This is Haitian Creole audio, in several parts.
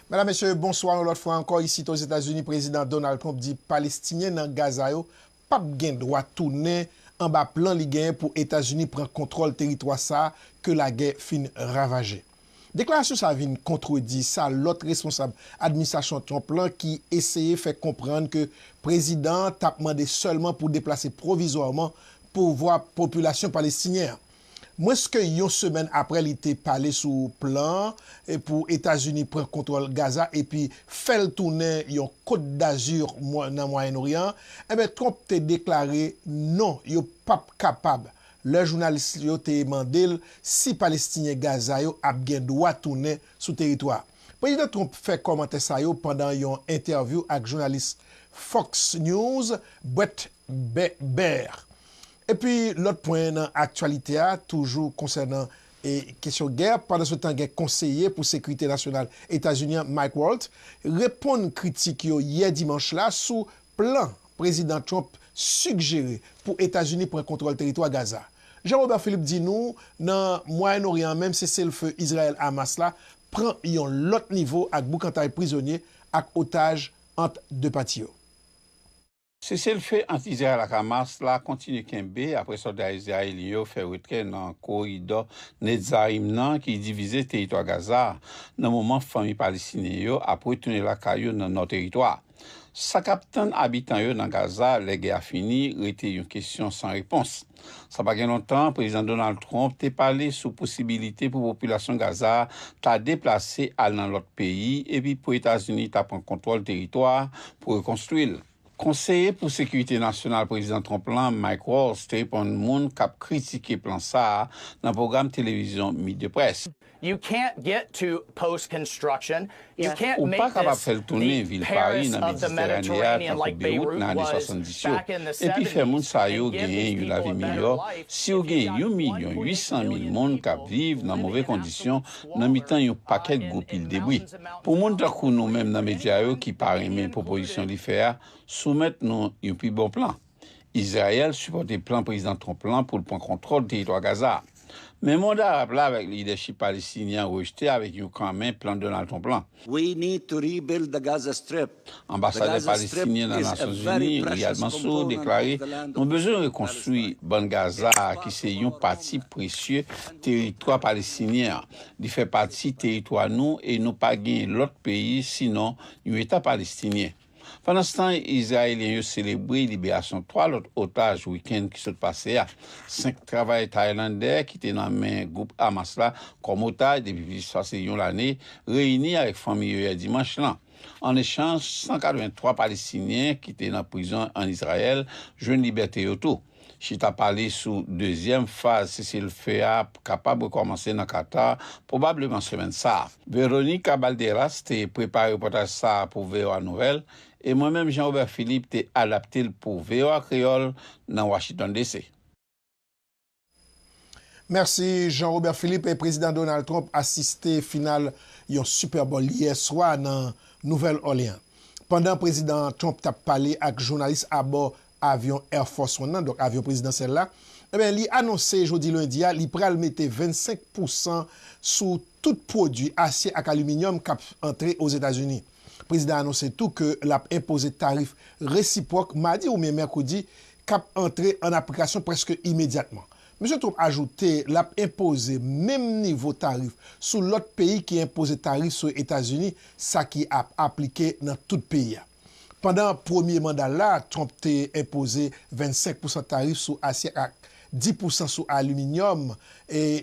Medam, Mesye, bonswa yon lòt fwa ankò isit Ozetazini Prezidan Donald Trump di Palestinyen nan Gaza yo pap gen dwa tounen anba plan li genyen pou Etazini pran kontwòl teritwa sa ke lagè fin ravaje. Deklarasyon sa vin kontredi sa lòt responsab administrasyon Trump lan ki eseye fè konprann ke prezidan an tap mande sèlman pou deplase pwovizwaman pouvwa popilasyon Palestinyen an. Mwens ke yon semèn apre li te pale sou plan pou Etazini pran kontwòl Gaza epi fè l tounen yon Côte d'Azur nan Mwayen Oryan, enben Trump te deklare non yo pap kapab lè jounalis yo te mande l si Palestinyen Gaza yo ap gen dwa tounen sou teritwa a. Prezidan Trump fè kòmantè sa yo pandan yon entèvyou ak jounalis Fox News Brett Bèbèr. Epi lòt pwen nan aktyalite a toujou konsènan kesyon gè, pandansetan gen konseye pou sekirite nasyonal Etazini an Mike Waltz reponn kritik yo yè dimanch la sou plan Prezidan Trump sigjere pou Etazini pran kontwòl teritwa Gaza. Jean Robert Philippe di nou nan Mwayen Oryan an menm seselfe Izrayèl-Hamas la pran yon lòt nivo ak boukantay prizonye ak otaj ant 2 pati yo. Seselfe ant Izrayèl ak Hamas la kontinye kenbe apre sòlda izrayelyen yo fè retrè nan koridò Netzarim nan ki divize teritwa Gaza a, nan moman fanmi Palestinyen yo ap retounen lakay yo nan nò teritwa a. Sa k ap tann abitan yo nan Gaza lè gè a fini rete yon kesyon san repons. Sa pa gen lontan, Prezidan Donald Trump te pale sou posibilite pou popilasyon Gaza a ta deplase al nan lòt peyi epi pou Etazini ta pran kontwòl teritwa a pou rekonstwi l. Konseye pou Sekirite Nasyonal Prezidan Trump lan, Mike Waltz, te reponn moun k ap kritike plan sa a nan pwogram televizyon Meet the Press. Ou pa kapab fè l tounen vil Pari nan Meditèrane a tankou Beyrout nan ane 70 yo epi fè moun sa yo genyen yon lavi miyò si w gen yon milyon ui san mil moun k ap viv nan move kondisyon nan mitan yon pakèt gwo pil debri. Pou moun tankou nou menm nan medya yo ki pa renmen pwopozisyon li fè a, soumèt nou yon pi bon plan. Izrayèl sipòte plan Prezidan Trump lan pou l pran kontwòl teritwa Gaza a. Men mond Arab la avèk lidèchip Palestinyen an rejte avèk yon kan men plan Donald Trump lan. We need to rebuild the Gaza Strip. Anbasadè Palestinyen nan Nasyonzini, Riyad Mansour, deklare, Nou bezwen rekonstwi Bann Gaza a ki se yon pati presye teritwa Palestinyen an. Li fè pati teritwa nou e nou pa gen lòt peyi sinon yon Eta Palestinyen. Pandanstan, Izrayelyen yo selebre liberasyon 3 lòt otaj wikenn ki sot pase a. 5 travayè Taylandè ki te nan men gwoup Hamas la kòm otaj depi plis pase yon lane reyini avèk fanmi yo yè dimanch lan. An echanj, 183 Palestinyen ki te nan prizon an Izrayèl jwenn libète yo tou. Chita pale sou dezyèm faz seselfe a kapab rekòmanse nan Qatar, pwobableman semèn sa a. Veronica Balderas te prepare repòtaj sa a pou voa Nouvelles e mwen menm Jean Robert Philippe te adapte l pou voa Kreyòl nan Washington DC. Mèsi Jean Robert Philippe. Prezidan Donald Trump asiste final yon Super Bowl yè swa nan Nouvèl Òlean. Pandan Prezidan Trump t ap pale ak jounalis abò avyon Air Force One nan, donk avyon prezidansyèl la, enben li anonse jodi lendi a li pral mete 25 pousan sou tout pwodui asye ak aliminyòm kap antre Ozetazini. Prezidan anonse tou ke lap enpoze tarif resipwòk madi oubyen mèkredi kap antre an aplikasyon prèske imedyatman. Misye Trump ajoute lap enpoze menm nivo tarif sou lòt peyi ki enpoze tarif sou Etazini, sa ki ap aplike nan tout peyi a. Pandan premye manda l la, Trump te enpoze 25 pousan tarif sou asye ak 10 pousan sou aliminyòm,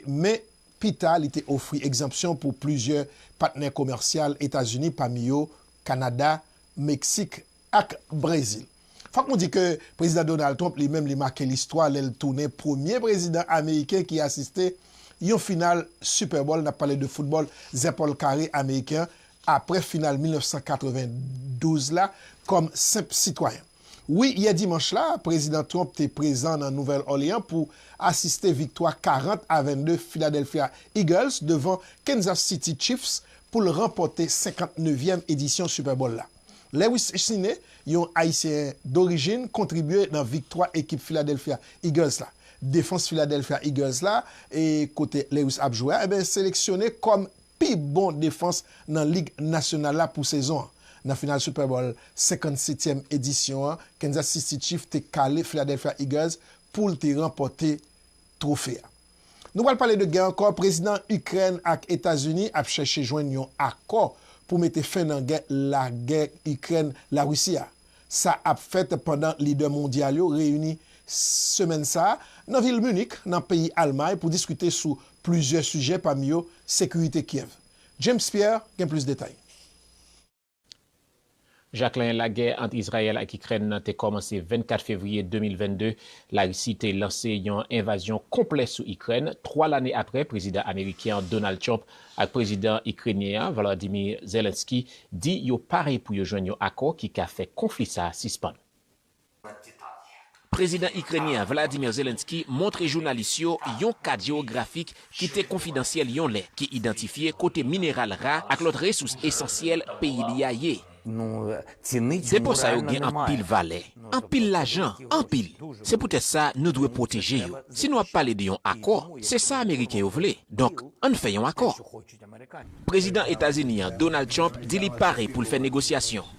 men pi ta li te ofri egzanpsyon pou plizyè patnè komèsyal Etazini, pami yo Kanada, Meksik ak Brezil. Fòk nou di ke Prezidan Donald Trump li menm li make listwa lè l tounen premye prezidan ameriken ki asiste yon final Super Bowl, n ap pale de foutbòl zèpòl kare ameriken an, apre final 1992 la kòm senp sitwayen. Wi, yè dimanch la, Prezidan Trump te prezan nan Nouvèl Òleyan pou asiste viktwa 40 a 22 Philadelphia Eagles devan Kansas City Chiefs pou l ranpòte 59 yèm edisyon Super Bowl la. Lewis Cine, yon Ayisyen dorijin, kontribye nan viktwa ekip Philadelphia Eagles la. Defans Philadelphia Eagles la, kote Lewis ap jwe a, seleksyone kòm pi bon defans nan Lig Nasyonal la pou sezon an. Nan final Super Bowl 57 tyèm edisyon an, Kansas City Chiefs te kale Philadelphia Eagles pou l te ranpòte twofe a. Nou pral pale de gè ankò, Prezidan Ikrèn ak Etazini ap chèche jwenn yon akò pou mete fen nan gè lagè Ikrèn-Larisi a. Sa ap fèt pandan lidè mondyal yo reyini semèn sa a nan vil Munich, nan peyi Almay pou diskite sou plizyè sijè pami yo sekirite Kyèv. James Pierre gen plis detay. Jacquelin Lagè ant Izrayèl ak Ikrèn nan te kòmanse 24 fevriye 2022. Larisi te lanse yon envazyon konplè sou Ikrèn, twa lane apre Prezidan ameriken an, Donald Trump, ak prezidan ikrenyen an, Volodymyr Zelensky, di yo pare pou yo jwenn yon akò ki ka fè konfli sa a sispann. Prezidan ikrenyen an, Vladimir Zelensky, montre jounalis yo yon kat jewografik ki te konfidansyèl yon lè, ki idantifye kote mineral ra ak lòt resous esansyèl peyi li a ye. Depo sa yo gen anpil valè, anpil lajan, anpil. Se poutèt sa nou dwe pwoteje yo. Si nou ap pale de yon akò, se sa ameriken yo vle, donk ann fè yon akò. Prezidan Etazini an, Donald Trump, di li pare pou l fè negosyasyon.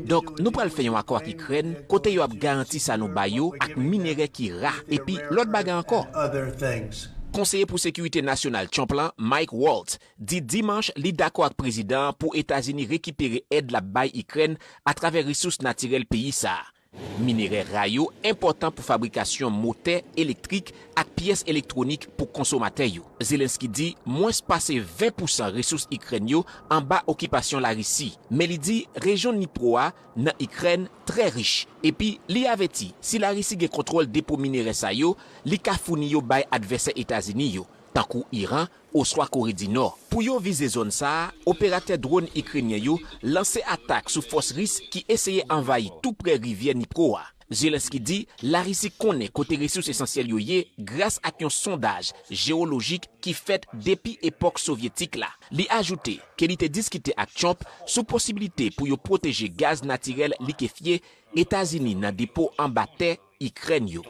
Donk nou pral fè yon akò ak Ikrèn kote yo ap garanti sa nou ba yo ak minerè ki ra epi lòt bagay ankò. Konseye pou Sekirite Nasyonal Trump lan, Mike Waltz, di Dimanch li dakò ak prezidan an pou Etazini rekipere èd l ap bay Ikrèn atravè resous natirèl peyi sa a. Minerè ra yo enpòtan pou fabrikasyon motè elektrik ak pyès elektwonik pou konsomatè yo. Zelenskyy di mwens pase 20 pousan resous Ikrèn yo anba okipasyon Larisi, men li di rejyon Dnipro a nan Ikrèn trè rich, epi li avèti si Larisi gen kontwòl depo minerè sa yo, li ka founi yo bay advèsè Etazini yo, tankou Iran, oswa Kore di Nò. Pou yo vize zòn sa a, operatè dronn Ikrenyen yo lanse atak sou fòs Ris ki eseye anvayi tou prè rivyè Dnipro a. Zelensky di Larisi konnen kote resous esansyèl yo ye gras ak yon sondaj jewolojik ki fèt depi epòk Sovyetik la. Li ajoute ke li te diskite ak Trump sou posibilite pou yo pwoteje gaz natirèl likefye Etazini nan depo anba tè Ikrèn yo.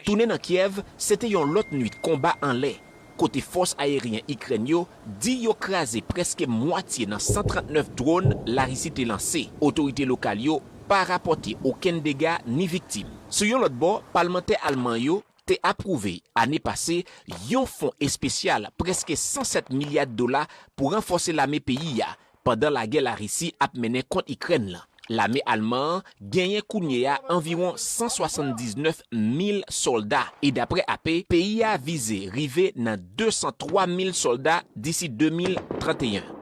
Tounen nan Kyèv se te yon lòt nwit konba anlè, kote fòs ayeryen Ikrèn yo di yo kraze prèske mwatye nan 139 dronn Larisi te lanse. Otorite lokal yo pa rapòte okenn dega ni viktim. Sou yon lòt bò, palmantè alman yo te apwouve ane pase yon fon espesyal prèske 107 milya dola pou ranfòse lame peyi a Pandan lagè Larisi ap mennen kont Ikrèn lan, lame alman an genyen kounye a anviwon 179 mil sòlda e dapre AP, peyi a vize rive nan 203 mil sòlda disi 2031.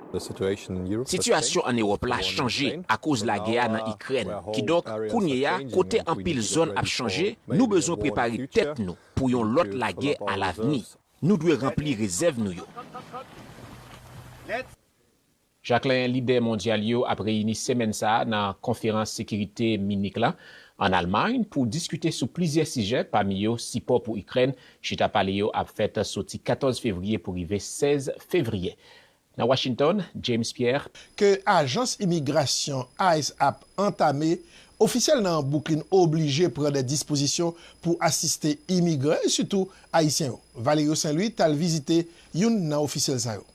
Sitiyasyon ann Ewòp la chanje akoz lagè a nan Ikrèn, kidonk kounye a kote anpil zòn ap chanje, nou bezwen prepare tèt nou pou yon lòt lagè alavni. Nou dwe ranpli rezèv nou yo. Jacquelin Lidè mondyal yo ap reyini semèn sa a nan Konferans Sekirite Minik la, ann Almay, pou diskite sou plizyè sijè, pami yo sipò pou Ikrèn. Chita pale yo ap fèt soti 14 fevriye pou rive 16 fevriye nan Washington. James Pierre. Ke ajans imigrasyon ice ap antame, ofisyèl nan Bwouklin oblije pran dè dispozisyon pou asiste imigran e sitou Ayisyen yo. Valerio Saint Louis t al vizite youn nan ofisyèl sa yo.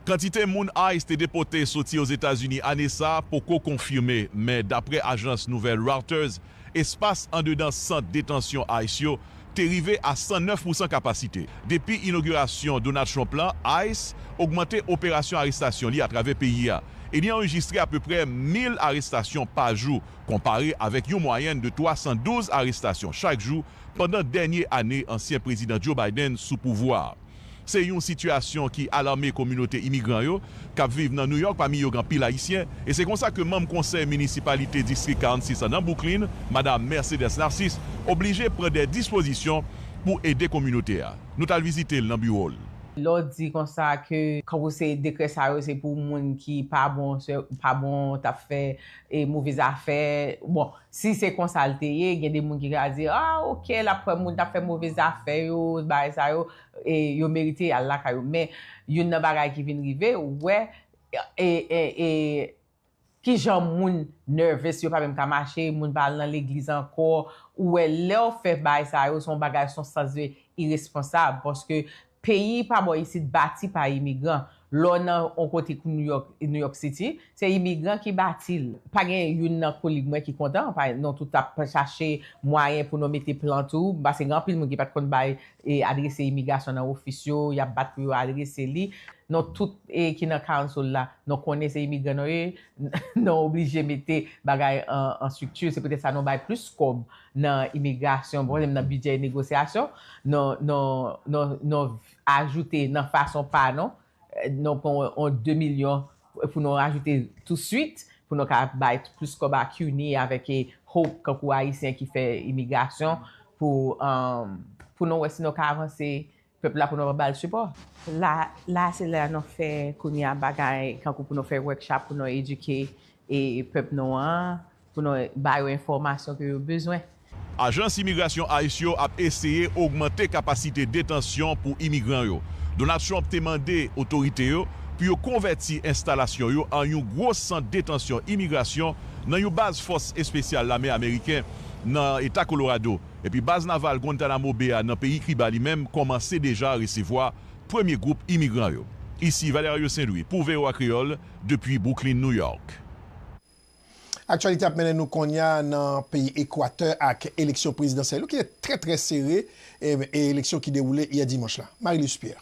Kantite moun ice te depote soti Ozetazini ane sa poko konfime, men dapre ajans nouvèl Reuters, espas andedan sant detansyon ice yo te rive a 109 pousan kapasite. Depi inogirasyon Donald Trump la, ice ogmante operasyon arestasyon li atravè peyi a, e li anrejistre apeprè 1,000 arestasyon pa jou, konpare avèk yon mwayèn de 312 arestasyon chak jou pandan dènye ane ansyen Prezidan Joe Biden sou pouvwa a. Se yon sitiyasyon ki alame kominote imigran yo k ap viv nan Nouyòk, pami yo gen anpil Ayisyen. E se konsa ke manm konsèy minisipalite Distrik 46 an nan Bwouklin, Madam Mercedes Narcisse, oblije pran dè dispozisyon pou ede kominote a. Nou t al vizite l nan biwo l. Lè w di konsa ke kanpe se dekrè sa yo se pou moun ki pa bon, pa bon, t ap fè move zafè, bon, Si se konsa l te ye, gen de moun ki ka di, a, ok, l ap kwè moun t ap fè move zafè yo, bagay sa yo, e yo merite y al lakay yo. Men, youn nan bagay ki vin rive, ou wè, e, ki jan moun nervous, yo pa menm ka mache, moun pa al nan legliz ankò, ou wè lè w fè bagay sa yo, se yon bagay, se yon sans de iresponsab, paske Peyi pa bò isit bati pa imigran. Lè w nan on kote kou Nouyòk, New York City, se imigran ki bati l. Pa gen youn nan kolig mwen ki kontan, pa nou tout ap chache mwayen pou nou mete plant ou, pase gen anpil moun ki pa t konn bay adrese imigrasyon nan ofis yo, y ap bat pou yo adrese li. Nou tout ki nan Council la, nou konnen se imigran nou ye, nou oblije mete bagay an strikti, se poutèt sa nou bay plis kòb. nan imigrasyon, pwoblèm nan bidjè e negosyasyon, non, non, non, non ajoute nan fason pa nou, non pran yon 2 milyon pou nou ajoute tousuit, pou nou ka bay plis kòb a CUNY avèk Hope kankou Ayisyen ki fè imigrasyon pou, pou nou wè si nou ka avanse Pèp la pou nou bal sipò. La la se lè nou fè kounye a bagay kankou pou nou fè workshop pou nou edike e pèp nou an pou nou ba yo enfòmasyon ke yo bezwen. Ajans imigrasyon ice yo ap eseye ogmante kapasite detansyon pou imigran yo. Donald Trump te mande otorite yo pou yo konvèti enstalasyon yo an yon gwo sant detansyon imigrasyon nan yon baz fòs espesyal lame ameriken nan eta Colorado. Epi baz naval Guantanamo Bay a nan peyi Kiba li menm kòmanse deja resevwa premye gwoup imigran yo. Isi Valerio Saint-Louis pou voa Kreyòl depi Brooklyn, New York. Aktyalite ap mennen nou konnya nan peyi Ekwatè ak eleksyon prezidansyèl yo ki te trè trè sere e eleksyon ki dewoule yè dimanch la. Marie-Luce Pierre.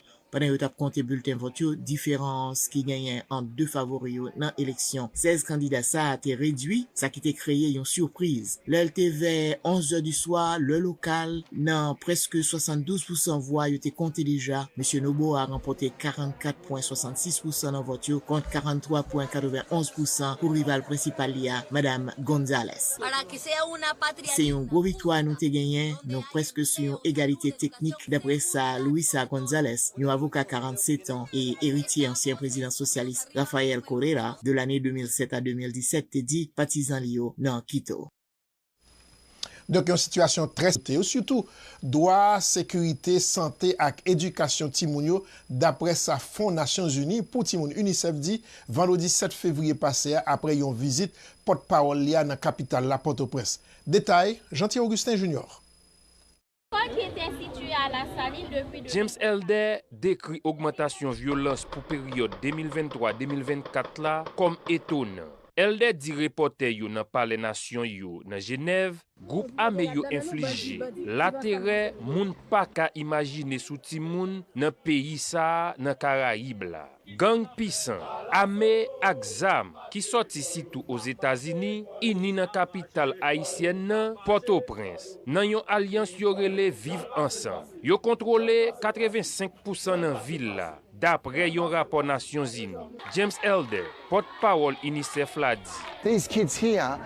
pandan yo t ap konte bilten vòt yo, diferans ki genyen ant 2 favori yo nan eleksyon 16 kandida sa a te redui, sa ki te kreye yon sipriz lè l te vè 11 zè di swa, lè lokal. Nan prèske 72 pousan vwa yo te konte deja, Mesye Noboa ranpòte 44 pwen 66 pousan nan vòt yo, kont 43 pwen 91 pousan pou rival prensipal li a, Madam Gonzalez. Se yon gwo viktwa nou te genyen, nou prèske sou yon egalite teknik, daprè sa Luisa Gonzalez, yon avoka 47 tan e eritye ansyen prezidan sosyalis Rafael Correa de lane 2007 a 2017 te di patizan li yo nan Quito. Donk yon sitiyasyon trè serye pou sante yo, sitou dwa sekirite, sante ak edikasyon timoun yo, daprè sa Fon Nasyonzini pou Timoun, UNICEF, di vandredi 7 fevriye pase a apre yon vizit pòt pawòl li a nan kapital la, Pòtoprens. Detay, Jeanty Augustin Junior. Parc était situé à la saline depuis de James Elder dekri ogmantasyon vyolans pou peryòd 2023-2024 la kòm etonan. Elder di repòtè yo nan Palè Nasyon yo nan Jenèv Gwoup ame yo enflije laterè moun pa ka imajine sou timoun nan peyi sa a nan Karayib la. Gang pisan, ame ak zam ki sòti sitou Ozetazini, ini nan kapital ayisyèn nan, Pòtoprens, nan yon alyans yo rele Viv Ansanm. Yo kontwole 85 pousan nan vil la. Daprè yon rapò Nasyonzini. James Elder, pòt pawòl UNICEF la di.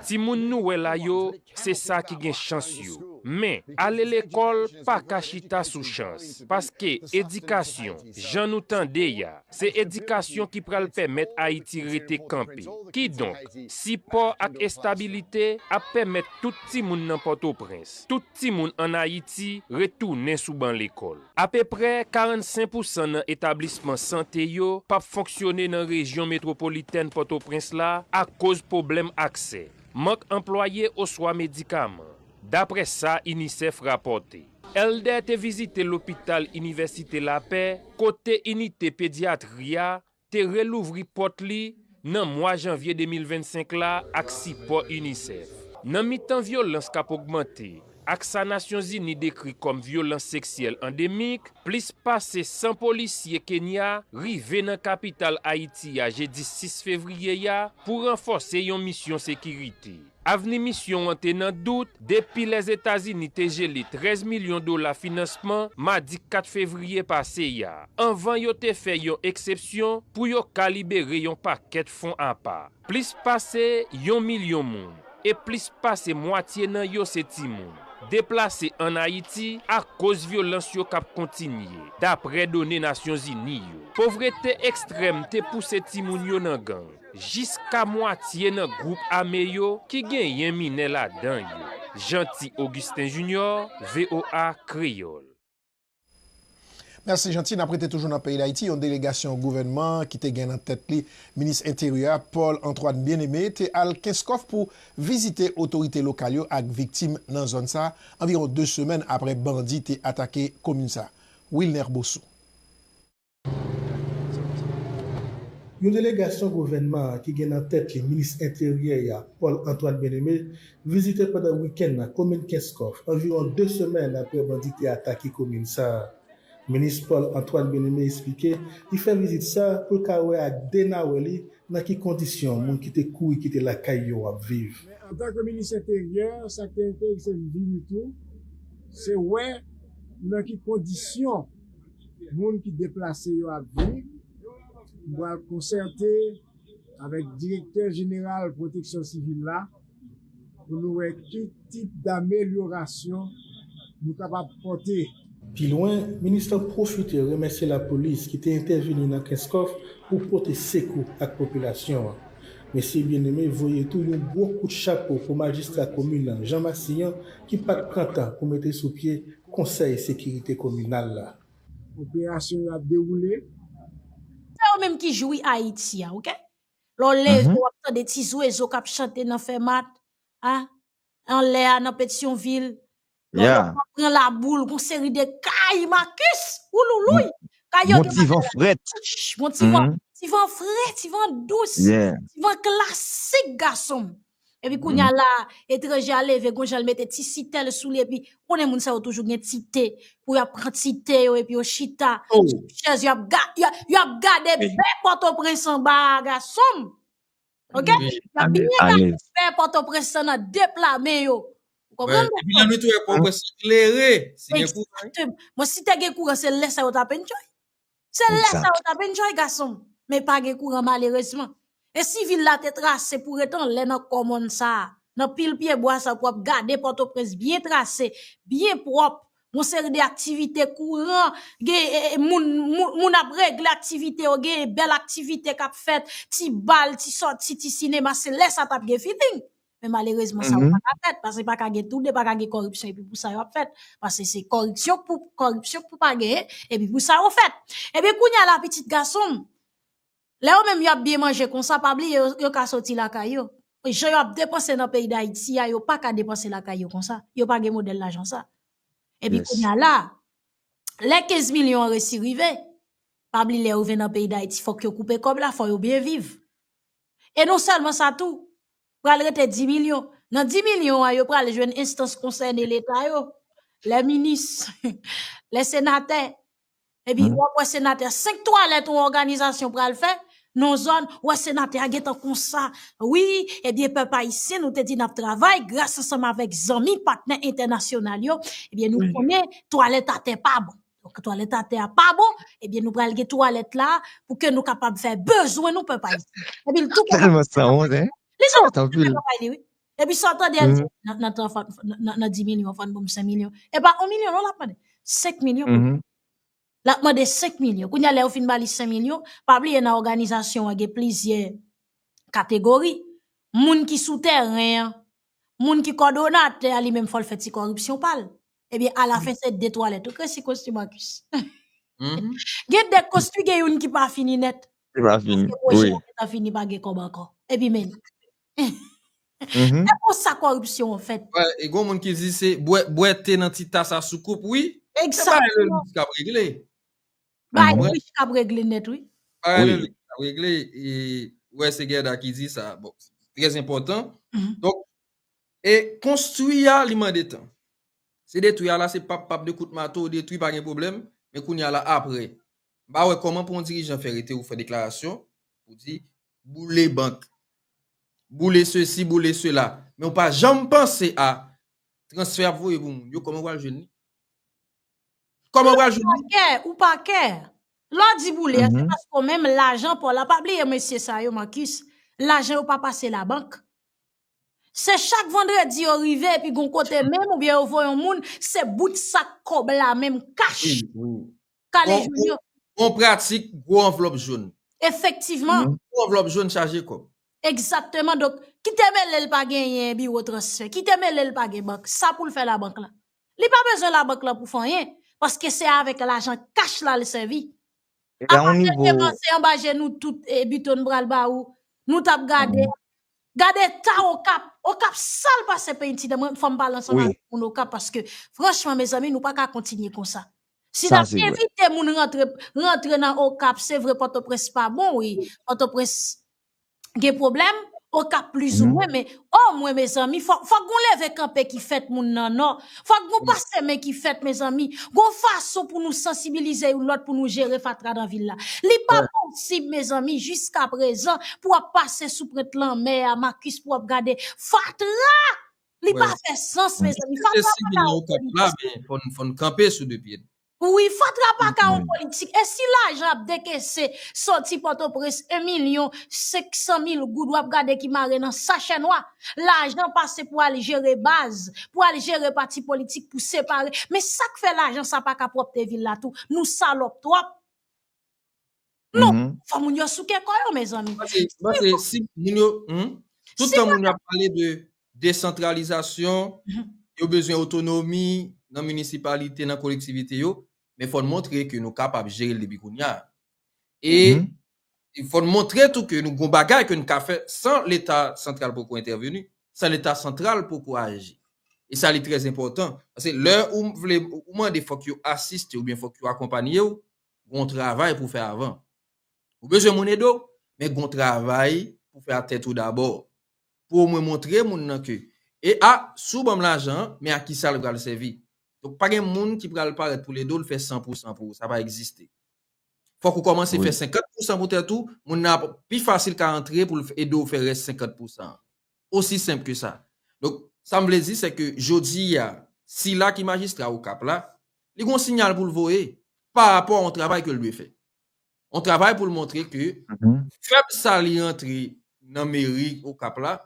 Timoun nou wè la yo, se sa ki gen chans yo. Men, ale lekòl pa ka chita sou chans. Paske edikasyon, jan nou tande ya, se edikasyon ki pral pèmèt Ayiti rete kanpe. Kidonk, sipò ak estabilite ap pèmèt tout timoun nan Pòtoprens, tout. timoun ann Ayiti retounen sou ban lekòl. Apeprè 45 pousan nan etablisman sante yo p ap fonksyone nan rejyon metwopolitèn Pòtoprens la akoz pwoblèm aksè, mank anplwaye oswa medikaman, daprè sa UNICEF rapòte. Elder te vizite lopital Inivèsite Lapè kote inite pedyatri a te relouvri pòt li nan mwa janvye 2025 la ak sipò UNICEF. Nan mitan vyolans k ap ogmante ak sa Nasyonzini dekri kòm vyolans seksyèl andemik, plis pase 100 polisye Kenya rive nan kapital Ayiti a jedi 6 fevriye a pou ranfòse yon misyon sekirite. Avni misyon an te nan dout depi Lèzetazini te jele 13 milyon dola finansman madi 4 fevriye pase a, anvan yo te fè yon eksepsyon pou yo ka libere yon pakèt fon apa. Plis pase yon milyon moun, e plis pase mwatye nan yo se timoun, deplase ann Ayiti akoz vyolans yo k ap kontinye, dapre done Nasyonzini yo. Povrete ekstrèm te pouse timoun yo nan gang. jiska mwatye nan gwoup ame yo ki genyen minè ladan yo. Jeanty Augustin Junior, voa Kreyòl. Mèsi Jeanty, n ap rete toujou nan peyi Dayiti, yon delegasyon gouvènman an ki te gen nan tèt li minis enteryè a Paul Antoine Bien-Aimé te al Kenskòf pou vizite otorite lokal yo ak viktim nan zòn sa anviwon 2 semèn aprè bandi te atake komin sa Wilner Bossou. Yon delegasyon gouvènman an ki gen nan tèt li minis enteryè a, Paul Antoine Bien-Aimé, vizite pandan wikenn nan komin Kenskòf, anviwon 2 semèn aprè bandi te atake komin sa a. Minis Paul Antoine Bien-Aimé esplike li fè vizit sa a pou l ka wè ak 2 nawè li nan ki kondisyon moun ki te kouri kite lakay yo ap viv. Men antanke minis enteryè, sa k te enterese l vini tou, se wè nan ki kondisyon. moun ki deplase yo ap viv, m pral konsète avèk Direktè Jeneral Pwoteksyon Sivil la pou nou wè ki tip damelyorasyon nou kapab pòte. Pi lwen, minis lan pwofite remèsye lapolis ki te entèveni nan Kenskòf pou pote sekou ak popilasyon an. Mesye Bien-Aimé voye tou yon gwo kout chapo pou majistra komin lan, Jean Massillon, ki pa t pran tan pou mete sou pye Konsèy Sekirite Kominal la. Operasyon yo ap dewoule. Se yo menm ki jwi Ayiti a ok. Lè w leve w ap tande ti zwezo k ap chante nan Fèmat, a, anlè a nan Petyonvil. Lè w leve w ap pran Laboul, gon seri de kay Makus! Wouloulouy! Kay yo gen bagay ladan yo. Gon ti van, ti van fre, ti van dous, ti van klasik gason m. Epi kounya la etranje a leve gon jan l mete ti sitèl sou li epi ou konnen moun sa yo toujou gen ti te pou y ap pran ti te yo epi yo chita sou chèz yo ap yo ap gade bè Pòtoprens anba a gason m ok y ap byen gade bè Pòtoprens lan nan de pla men yo ou konprann m epi lè nou te wè Pòtoprens klere si gen kouran wi mwen si te gen kouran se lè sa yo t ap enjoy Se lè sa yo tap enjoy gason m. Men pa gen kouran malerezman. E si vil la te trase pou ret anlè nan kò mòn sa a, nan pil pye bwa sa pou ap gade Pòtoprens byen trase, byen pwòp, yon seri de aktivite kouran, gen moun, moun ap regle aktivite yo, gen bèl aktivite kap fèt, ti bal, ti sòti, ti sinema, se lè sa tap gen feeling. Men malerezman sa yo pa ka fèt, paske pa ka gen tou 2, pa ka gen kòripsyon epi pou sa yo ap fèt. Paske se kòripsyon pou kòripsyon pou pa genyen, epi pou sa yo fèt. Ebyen kounye a la pitit gason m, lè yo menm yo ap byen manje konsa, pa bliye yo ka soti lakay yo. Jan yo ap depanse nan peyi Dayiti a, yo pa ka depanse lakay yo konsa. Yo pa gen modèl lajan sa. Ebyen kounye a la, lè 15 milyon an resi rive, pa bliye lè yo vin nan peyi Dayiti fòk yo koupe kòb la, fò yo byen viv. E non sèlman sa tou, pral rete 10 milyon. Nan 10 milyon an, yo pral jwenn enstans konsène Leta yo, lè minis, lè senatè. Epi, w ap wè senatè a, 5 twalèt yon òganizasyon pral fè, nan zòn, w wè senatè a gen tan konsa, wi, ebyen pèp ayisyen nou te di n ap travay, gras ansanm avèk zanmi, patnè entènasyonal yo, ebyen nou konnen twalèt atè pa bon. Donk twalèt atè a pa bon, ebyen nou pral gen twalèt la pou ke nou kapab fè bezwen nou pèp ayisyen. Epi l tou kontan Tèlman san wont hein. Li sa Wont anpil. konprann bagay li wi. Epi sa w tande al di nan nan tran fò nan nan 10 milyon fò n ban m 5 milyon. E pa 1 milyon non l ap mande. 5 milyon pou Mhm. l ap mande 5 milyon. Kounye a lè yo fin ba li 5 milyon, pa bliye nan òganizasyon an gen plizyè kategori. Moun ki sou tèren an, moun ki kòdonatè a li menm fò l fè ti kòripsyon pa l. Ebyen alafen se de twalèt ou kreye si kosti Marcus. Gen de kosti gen youn ki pa fini nèt. Ki pa fini wi. Paske pwojè a gentan fini pa gen kòb ankò. Epi men. Se konsa kòripsyon an fèt. E gon moun ki di se bwè te nan ti tas a sou koup wi. Se bagay Lelis kap regle. Bagay Lelis kap regle nèt wi. Bagay Lelis kap regle e wè se Guerda ki di sa. Bon, trè enpòtan. Donk E konstwi a li mande tan. Se detwi a la se pap pap 2 kout mato ou detwi pa gen pwoblèm men kounye a la aprè m pa wè kòman pou yon dirijan fè rete ou fè deklarasyon ou di boule bank boule sesi boule sela men ou pa janm panse a transfè y ap voye pou moun yo kòman ou pral jwenn li kòman ou pral jwenn li. Ou pa kè ou pa kè lè w di boule a se paske ou menm lajan pa w la pa bliye mesye sa yo Marcus lajan yo pa pase labank. Se chak vandredi yo rive epi gon kote menm oubyen yo voye yon moun se bout sak kòb la menm kach kale jwenn yo. Bon pratik gwo anvlòp joun. Efektivman. Gwo anvlòp joun chaje kòb. Egzakteman donk ki te mele l pa genyen biwo transfè, ki te mele l pa gen bank, sa pou l fè labank la. Li pa bezwen labank la pou fè anyen paske se avèk lajan kach la l sèvi. Epa yon nivo. Apatèt te vanse anba je nou tout e Buteau nou pral ba ou. Nou tap gade. Gade eta okap. Okap sal pase penti nan men fòm pale ansanm avèk moun okap paske franchman mezanmi nou paka kontinye konsa. Si nap envite moun rantre rantre nan okap se vre pòtoprens pa bon wi. Pòtoprens. gen problem okap plus ou mwen men oh mwen mezanmi fok fok gon leve kanpe ki fèt moun nan non fok gon pase men ki fèt mezanmi gon fason pou nou sansibilize yon lot pou nou jere fatra nan vil la li pa posib mezanmi jiska prezan pou ap pase sou prent lanmè a makis pou ap gade fatra li pa fè sans mezanmi fatra pa ka okap la men fon kanpe sou 2 pye nou. Wi fatra paka yon politik e si lajan ap dekese soti potoprens 1 milyon 500 mil goud wap gade ki mare nan sachè nwa lajan pase pou al jere baz pou al jere pati politik pou separe men sak fè lajan sa paka pwopte vil la tou nou salop twop. Non, mm -hmm. faut moun yo souke kò yo mes amis. Parce si moun yo hmm? tout temps moun yo parlé de décentralisation, mm -hmm. yo besoin autonomie dans municipalité, dans collectivité yo, mais faut montrer que nous capables gérer le depuis kounya. Et mm -hmm. il faut montrer tout que nous gon bagay que nous ka faire sans l'état central pour intervenir, sans l'état central pour agir. E sa li trèz enpòtan. Se lè ou mwen de fòk yo asiste ou byen fòk yo akompany yo, Gon travay pou fè avan. Ou bezwen moun ede w, men gon travay pou fè a tèt ou dabò. Pou o mwen montre moun nan ke, e a, si w ban m lajan an, men a kisa l pral sèvi. Donk pa gen moun ki pral parèt pou l ede w l fè san pou san pou ou, sa pa egziste. Fòk ou kòmanse fè senkant pou san pou tèt ou, moun nan ap pi fasil ka antre pou l ede w fè rès senkant pou san an. Osi senp ke sa. Donk, sa m vle di se ke jodi a, sila ki majistra Okap la, li gen yon sinyal pou l voye pa rapò a yon travay ke l dwe fè. Yon travay pou l montre ke fèb sa li rantre nan meri Okap la,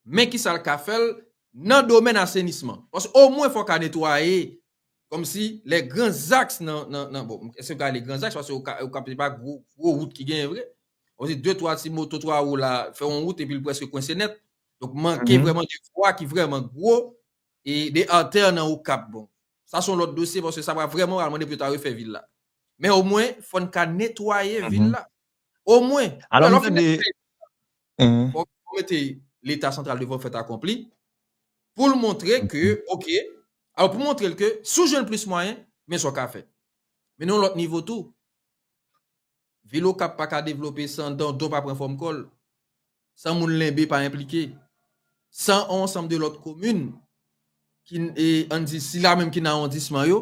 men kisa l ka fè l nan domèn asenisman. Paske omwen fò ka netwaye kòm si lè gran zaks nan, nan, bon, èske m ka rele gran zaks paske Okap se pa gwo wout ki genyen vre. on di 2 3 ti moto 3 wou la fè on wout epi l prèske kwense nèt. Donk manke vrèman de vwa ki vrèman gwo e de artère nan Okap bon. Sa son lòt dosye paske sa va vrèman pral mande pou yo ta refè vil la. Men omwen fò n ka netwaye vil la. Omwen. Alò m tande. Fò w mete leta santral devan fèt akonpli pou l montre ke ok alò pou montre l ke si w jwenn plis mwayen men sa w ka fè. Men nan yon lòt nivo tou. Vil Okap pa ka devlope san Dondon pa pran fòm kò l, san moun Lenbe pa enplike, san on ansanm de lòt komin ki n e an n di sila menm ki nan awondisman yo,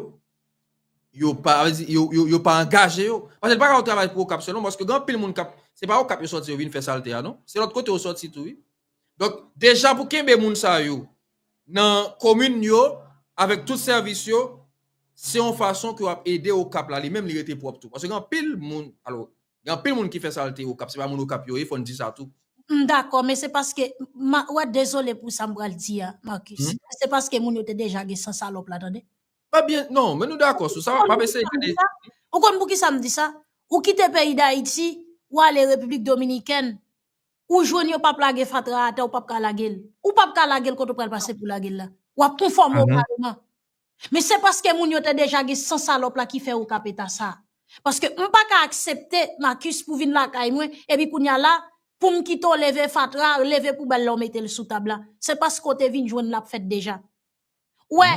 yo pa vle di yo yo yo pa angaje yo. Paske l pa ka yon travay pou Okap sèlman paske gen anpil moun k ap se pa Okap yo sòti yo vin fè salte a non. Se lòt kote yo sòti tou wi. Donk deja pou kenbe moun sa yo nan komin yo avèk tout sèvis yo, se yon fason ke w ap ede Okap la li menm li rete pwòp tou. Paske gen anpil moun, alo, gen anpil moun ki fè salte Okap, se pa moun Okap yo ye, fò n di sa tou. M dakò, men se paske, m a, wè, dezole pou sa m pral di a, Marcus, men se paske moun yo te deja gen san salòp la, tande. Mwen byen, non, men nou dakò sou sa, m ap eseye gade. Ou konn poukisa m di sa? Ou kite peyi Dayiti, ou ale Repiblik Dominikèn, Ou jwenn yo pap lage fatra atè ou pap ka lage l. Ou pap ka lage l kote ou pral pase pou lage l la. W ap konfòme w kareman. Men se paske moun yo te deja gen san salòp la ki fè ou kap eta sa. Paske m pa ka aksepte Marcus pou vin lakay mwen epi kounye a la pou m kite w leve fatra, leve poubèl la ou mete l sou tab la. Se paske w te vin jwenn l ap fèt deja. Ou wè,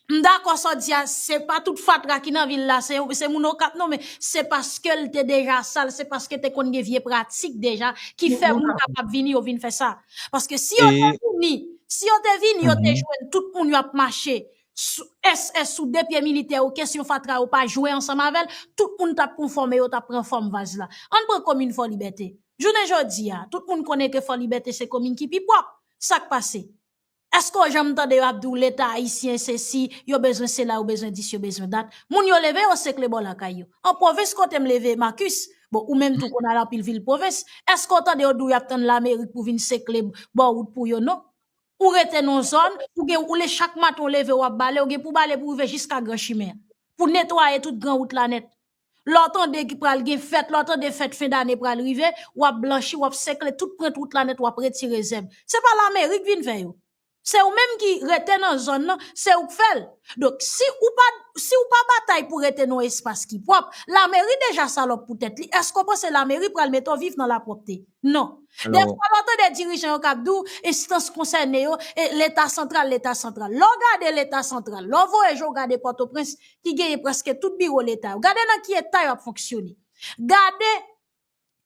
M dakò sa w di a, se pa tout fatra ki nan vil la se moun okap non men se paske l te deja sal, se paske te konn gen vye pratik deja ki fè moun kapab vini yo vin fè sa. Paske si yo te vini, si yo te vini yo te jwenn tout moun yo ap mache SS sou de pye militè yo kesyon fatra yo pa jwe ansanm avè l, tout moun t ap konfòme yo t ap pran fòm vaz la. Ann pran komin Fò Libète, jounen jodi a tout moun konnen ke Fò Libète se komin ki pi pwòp, sa k pase? Eske w janm tande yo ap di w leta ayisyen se si, yo bezwen sela, yo bezwen dis, yo bezwen dat. Moun yo leve yo sekle bò lakay yo. An pwovens kote m leve Marcus, bon ou menm tou konn al anpil vil pwovens, eske w tande yo di w y ap tann lamerik pou vin sekle bò wout pou yo non. Ou rete nan yon zòn, ou gen ou le chak maten w leve w ap bale, ou gen pou w bale pou w rive jiska gran chimen an. Pou netwaye tout gran wout la nèt. Lè w tande ki pral gen fèt, lè w tande fèt fen dane pral rive, w ap blanchi, w ap sekle tout prent wout la nèt, w ap retire zèb. Se pa Lamerik vin fè yo. Se ou menm ki rete nan zòn nan, se ou k fè l. Donk, si ou pa, si ou pa batay pou rete nan yon espas ki pwòp, Lameri deja salòp pou tèt li, èske ou panse Lameri pral mete w viv nan lapwòpte? Non. Dè fwa lè w tande dirijan yo k ap di w, enstans konsène yo, e Leta santral, Leta santral. Lè w gade Leta santral, lè w vwayaje w gade Pòtoprens, ki genyen preske tout biwo leta yo, gade nan ki eta yo ap fonksyone. Gade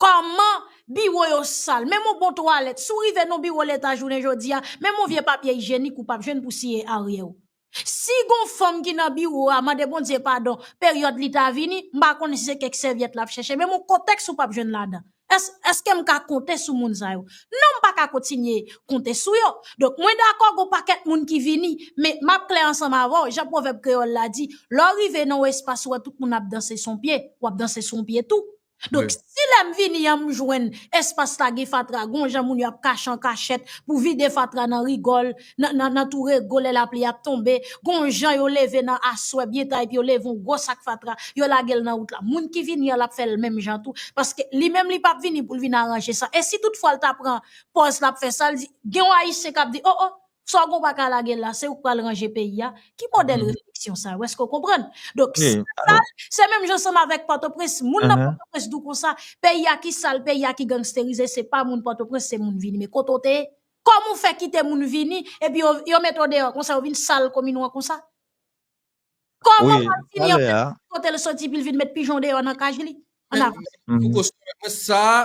kòman biwo yo sal, menm yon bon twalèt, si w rive nan yon biwo leta jounen jodi a, menm yon vye papye ijyenik ou pap jwenn pou siye aryè w. Si gon fanm ki nan biwo a, mande Bondye padon, peryòd li ta vini, m pa konnen si se kèk sèvyèt l ap chèche, menm yon kotèks ou pap jwenn ladan. Èske, èske m ka konte sou moun sa yo? Non m pa ka kontinye konte sou yo. Donk mwen dakò gon pakèt moun ki vini, men m ap klè ansanm avè w, jan pwovèb kreyòl la di, lè w rive nan yon espas ou wè tout moun ap danse sou yon pye, w ap danse sou yon pye tou. Donk si lè m vini an m jwenn espas la gen fatra, gon jan moun yo ap kache an kachèt pou vide fatra nan rigòl, nan tou rego lè lapli ap tonbe, gon jan yo leve nan aswè byen ta epi yo leve yon gwo sak fatra, yo lage l nan wout la. Moun ki vini an l ap fè l menm jan tou paske li menm li p ap vini pou l vin aranje sa. E si tout fwa l ta pran pòz l ap fè sa l di, gen yon Ayisyen k ap di, o o, sa w gen w pa ka lage l la, se ou k pral ranje peyi a? Ki modèl refleksyon sa yo? Èske w konprann? Donk si l sal, se menm jan ansanm avèk Pòtoprens. Moun nan Pòtoprens di w konsa, peyi a ki sal, peyi a ki gangsterize, se pa moun Pòtoprens, se moun vini. Men kote w te ye? Kòman ou fè kite moun vini epi yo mete w deyò konsa, yo vin sal komin ou an konsa? Kòman w ap vini yon moun pa di kote l soti epi l vin met pijon deyò nan kaj li? An avan. Men fouco sou mwen, mwen sa a,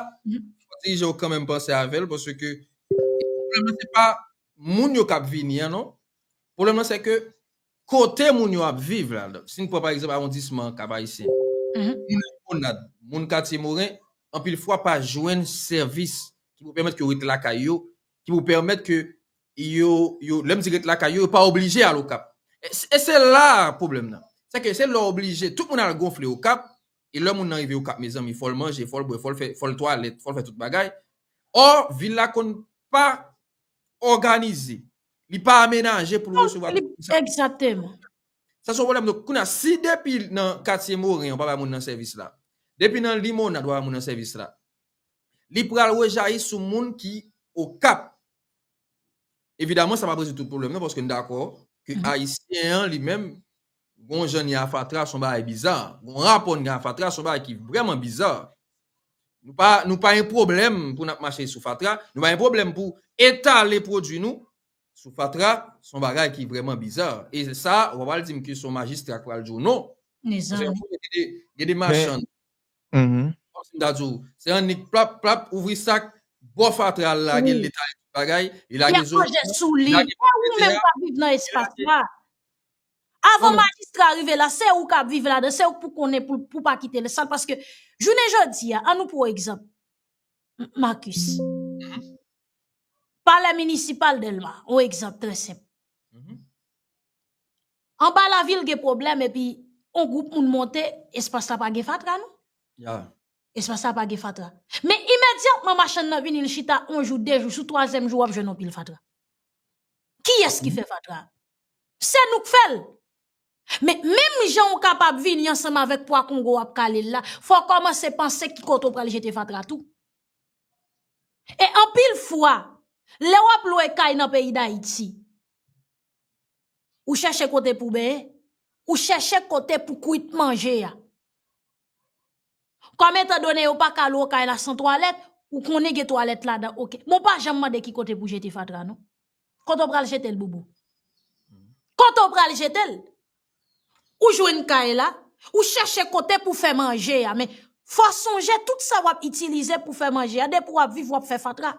fò ti je ou kanmenm panse avè l paske pwoblèm nan se pa moun yo k ap vini an non, pwoblèm nan se ke Kote moun yo ap viv la. Si n pran pa egzanp awondisman Kap Ayisyen, moun Limonad, moun Katye Moren, anpil fwa pa jwenn sèvis ki pou pèmèt ke yo ret lakay yo, ki pou pèmèt ke yo, yo, lè m di ret lakay yo, yo pa oblije al Okap. E se la a pwoblèm nan. Se ke se lè w oblije, tout moun al gonfle Okap, e lè moun nan rive Okap mezanmi, fò l manje, fò l bwè, fò l fè, fò l twalèt, fò l fè tout bagay. Ò, vil la konn pa òganize. Li pa amenaje pou l resevwa tout moun sa. Exactement. Sa son pwoblèm. Donk, kounye a, si depi nan katye Moren yo pa bay moun nan sèvis la, depi nan Limonad yo pa bay moun nan sèvis la, li pral rejayi sou moun ki Okap. Evidaman, sa p ap rezoud tout pwoblèm nan paske n dakò ke Ayisyen an li menm Gon jan ni a fatra son bagay biza. Gon rapò ni a fatra son bagay ki vrèman biza. Nou pa nou pa gen pwoblèm pou nap mache sou fatra, nou pa gen pwoblèm pou etale pwodwi nou sou fatra son bagay ki vrèman biza. E sa wap al dim ke son majistra ki pral di w non. Gen de machann kom si m ta di w se annik plap plap ouvri sak bo fatra al lage l etale tout bagay. Li ap manje sou li. Ou menm kap viv nan espas la. Avan majistra rive la, se ou kap viv ladan, se ou pou konnen pou pa kite le sal, paske jounen jodi a, an nou pou egzanp, Marcus, pale minisipal delma, ou egzanp tre semp, an ba la vil gen problem, epi, on group moun monte, espas la pa gen fatra nou? Espas la pa gen fatra. Men imedyatman machann nan vini li chita yon jou, de jou, sou twazyèm jou w ap jwenn yon pil fatra. Kiyès ki fè fatra? Se nou k fè l! Men, menm jan ou kapab vini ansanm avèk pwa kongo w ap kale l la, fò w kòmanse panse ki kote w pral jete fatra tou. E anpil fwa, lè w ap lwe kay nan peyi Dayiti, ou chèche kote pou benyen, ou chèche kote pou kwit manje a. Kòm etan done yo pa ka lwe kay la san twalèt, ou konnen gen twalèt ladan ok. Bon pa janm mande ki kote pou jete fatra non. Kote ou pral jete l boubou? Kote ou pral jete l? Ou jwenn kay la, ou chèche kote pou fè manje a men fò sonje tout sa wap itilize pou fè manje a depi wap viv wap fè fatra.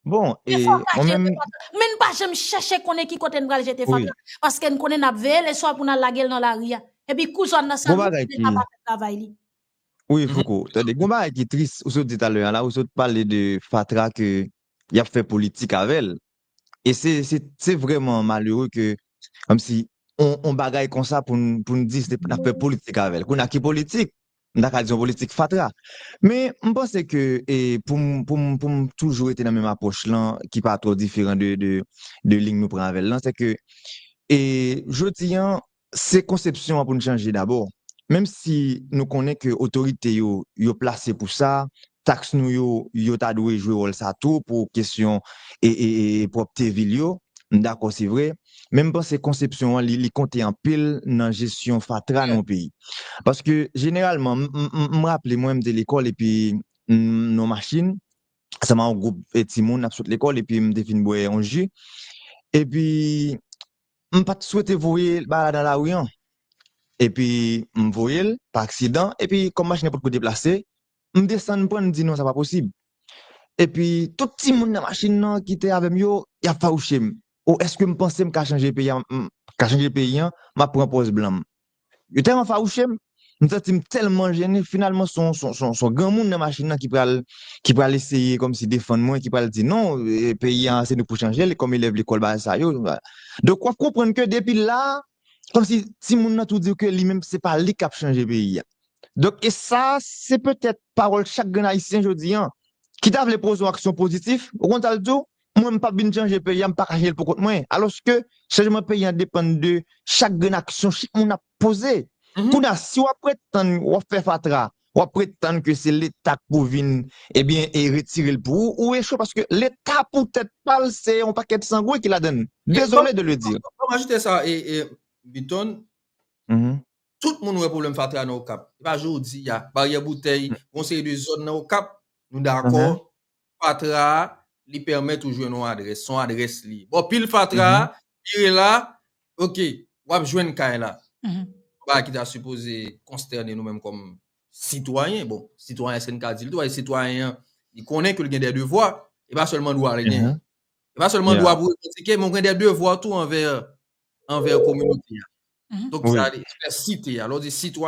Bon e mwen menm. Men n pa janm chèche konnen ki kote n pral jete fanm nan. Paske n konnen n ap veye leswa pou n al lage l nan lari a. E pi kou zòn nan sal moun leta pa fè travay li. Wi fouco, tande gen yon bagay ki tris ou sot di talè an la, ou sot pale de fatra ke y ap fè politik avè l. E se vrèman malere ke kòmsi yon bagay konsa pou n di n ap fè politik avè l. Kounye a ki politik? m ta ka di yon politik fatra. Men, m panse ke e pou m pou m pou m toujou rete nan menm apwòch lan ki pa twò diferan de de de liy nou pran avè l lan se ke e jodi an se konsepsyon an pou n chanje dabò. Menm si nou konnen ke otorite yo yo plase pou sa, Taks nou yo, yo ta dwe jwe wòl sa tou pou kesyon pwòpte vil yo. M dakò se vre, men m panse konsepsyon an li konte anpil nan jesyon fatra nan yon peyi. Paske jeneralman, m raple mwen m te lekòl epi m nan yon machin ansanm ak yon gwoup timoun n ap sot lekòl epi m te fin bwè yon ji epi m pa t swete voye bagay la nan lari an epi m voye l pa aksidan epi kòm machin nan potko deplase m desann pran m di non sa pa posib epi tout timoun nan machin nan ki te avè m yo y ap fawouche m o èske m panse m ka chanje peyi an m ka chanje peyi an m ap pran pòz blan m yo tèlman fawouche m m santi m tèlman jennen finalman son son granmoun nan machin nan ki pral ki pral eseye kòmsi defann mwen ki pral di non peyi an se nou k pou chanje l kòm elèv lekòl bagay sa yo donk w ap konprann ke depi la kòmsi timoun nan tou di w ke li menm se pa li k ap chanje peyi an Donk e sa a se petèt pawòl chak grenn ayisyen jodi an ki ta vle poze yon aksyon pozitif, ou konn sa l di w, mwen m p ap vin chanje peyi an, m pa ka chanje l poukont mwen. Alòske chanjman peyi an depann de chak grenn aksyon chak moun ap poze. Kounye a, si w ap pretann w ap fè fatra, w ap pretann ke se leta k pou vin ebyen retire l pou ou, ou echwe paske leta pou tèt pa l se yon pakèt sangwen ki ladann. Dezole de le dire. Ban m ajoute sa Byton, Tout moun wè pwoblèm fatra nan Okap. Se pa jodi a. Baryè Boutèy, gon seri de zòn nan Okap, nou dakò, fatra a, li pèmèt ou jwenn yon adrès. Se yon adrès li ye. Bò pil fatra a, vire la, ok, w ap jwenn kay la. Bagay ki ta sipoze konstène nou menm kòm sitwayen. Bon, sitwayen èske n ka di l dwa? E sitwayen an, li konnen ke l gen dè devwa. E pa sèlman dwa li genyen. E pa sèlman dwa pou revandike, men ou gen dè devwa tou anvè anvè kominote a. Donk sa li fè site a. Lè w di sitwa.